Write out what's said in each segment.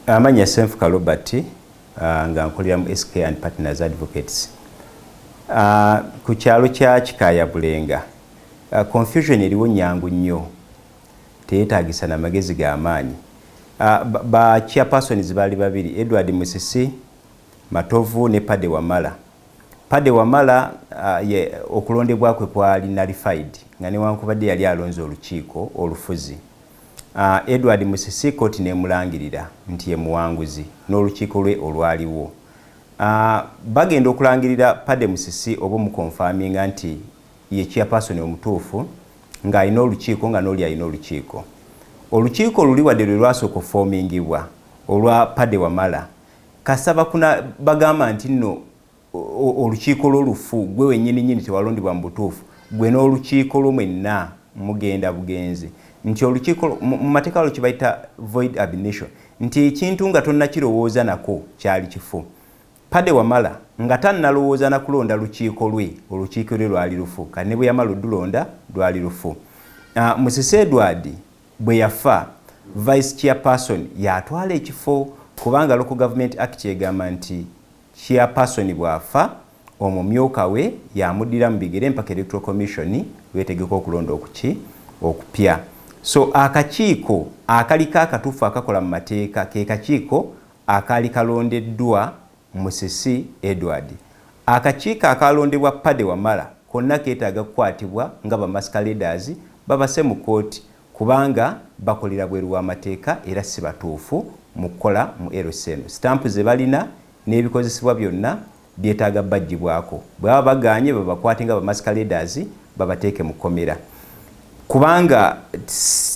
Amanya Senfuka Robert uh, nga nkolera mu SK and Partners Advocates uh, ku kyalo kya Kikaaya Bulenga uh, confusion eriwo nyangu nnyo teyetaagisa na magezi ga maanyi uh, ba chairpersons baali babiri Edward Musisi Matovu ne Pade Wamala Pade Wamala uh, ye, okulondebwa kwe kwali nullified nga newankubadde yali alonze olukiiko olufuzi Edward Musisi kkooti n'emulangirira nti ye muwanguzi n'olukiiko lwe olwaliwo. Bagenda okulangirira Paddy Musisi oba omukonfaminga nti ye Chairperson omutuufu ng'alina olukiiko nga n'oli alina olukiiko. Olukiiko luli wadde lwe lwasooka okufoomingibwa olwa Paddy Wamala, kasita bakuna bagamba nti nno olukiiko lwo lufu, ggwe wennyini nnyini tewalondebwa mu butuufu, ggwe n'olukiiko lwo mwenna mugenda bugenzi. Nti olukiiko lwo, mu, mu mateeka waliwo kye bayita void ab initio, nti ekintu nga tonnakirowooza nako kyali kifu. Paddy Wamala nga tannalowooza na kulonda lukiiko lwe, olukiiko lwe lwali lufu, kati ne bwe yamala odulonda, lwali lufu. Ah, Musisi Edward bwe yafa, Vice Chairperson y'atwala ekifo, kubanga Local Government Act egamba nti, Chairperson bw'afa, omumyuka we y'amuddira mu bigere mpaka Electoral Commission lw'etegeka okulonda okuki okupya. So akakiiko akaliko akatuufu akakola mu mateeka ke kakiiko akaali kalondeddwa Musisi Edward. Akakiiko akaalondebwa Paddy Wamala konna keetaaga kukwatibwa nga bamasqueraders babase mu kkooti kubanga bakolera bweru w'amateeka era si batuufu mu kukola mu LC eno. Sitampu ze balina n'ebikozesebwa byonna byetaaga baggyibwako. Bwe baba bagaanye babakwate nga bamasikaledaazi babateeke mu kkomera kubanga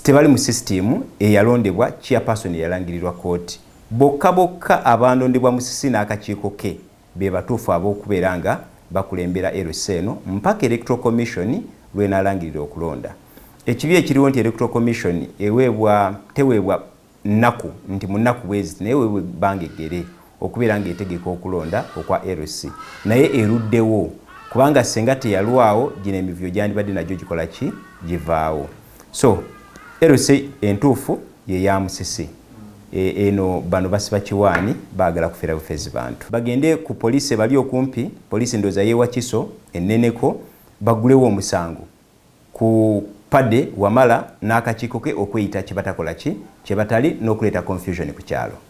tebali mu sisitiimu eyalondebwa Chairperson eyalangirirwa kkooti. Bokka bokka abandondebwa Musisi n'akakiiko ke be batuufu ab'okubeera nga bakulembera LC eno mpaka Electoral Commission lw'enaalangirira okulonda. Ekibi ekiriwo nti Electoral Commission eweebwa teweebwa nnaku nti mu nnaku bweziti naye eweebwa ebbanga eggere okubeera ng'etegeka okulonda okwa LC naye eruddewo kubanga ssenga teyalwawo gino emivuyo gyandibadde nagyo gikola ki? Givaawo. so LC entuufu ye ya Musisi e, eno bano basiba kiwaani baagala kufera bufezi bantu bagende ku poliisi ebali okumpi poliisi ndooza yewa kiso enneneko bagulewo omusango ku pade wamala n'akakiiko ke okweyita kye batakola ki kye batali n'okuleeta confusion ku kyalo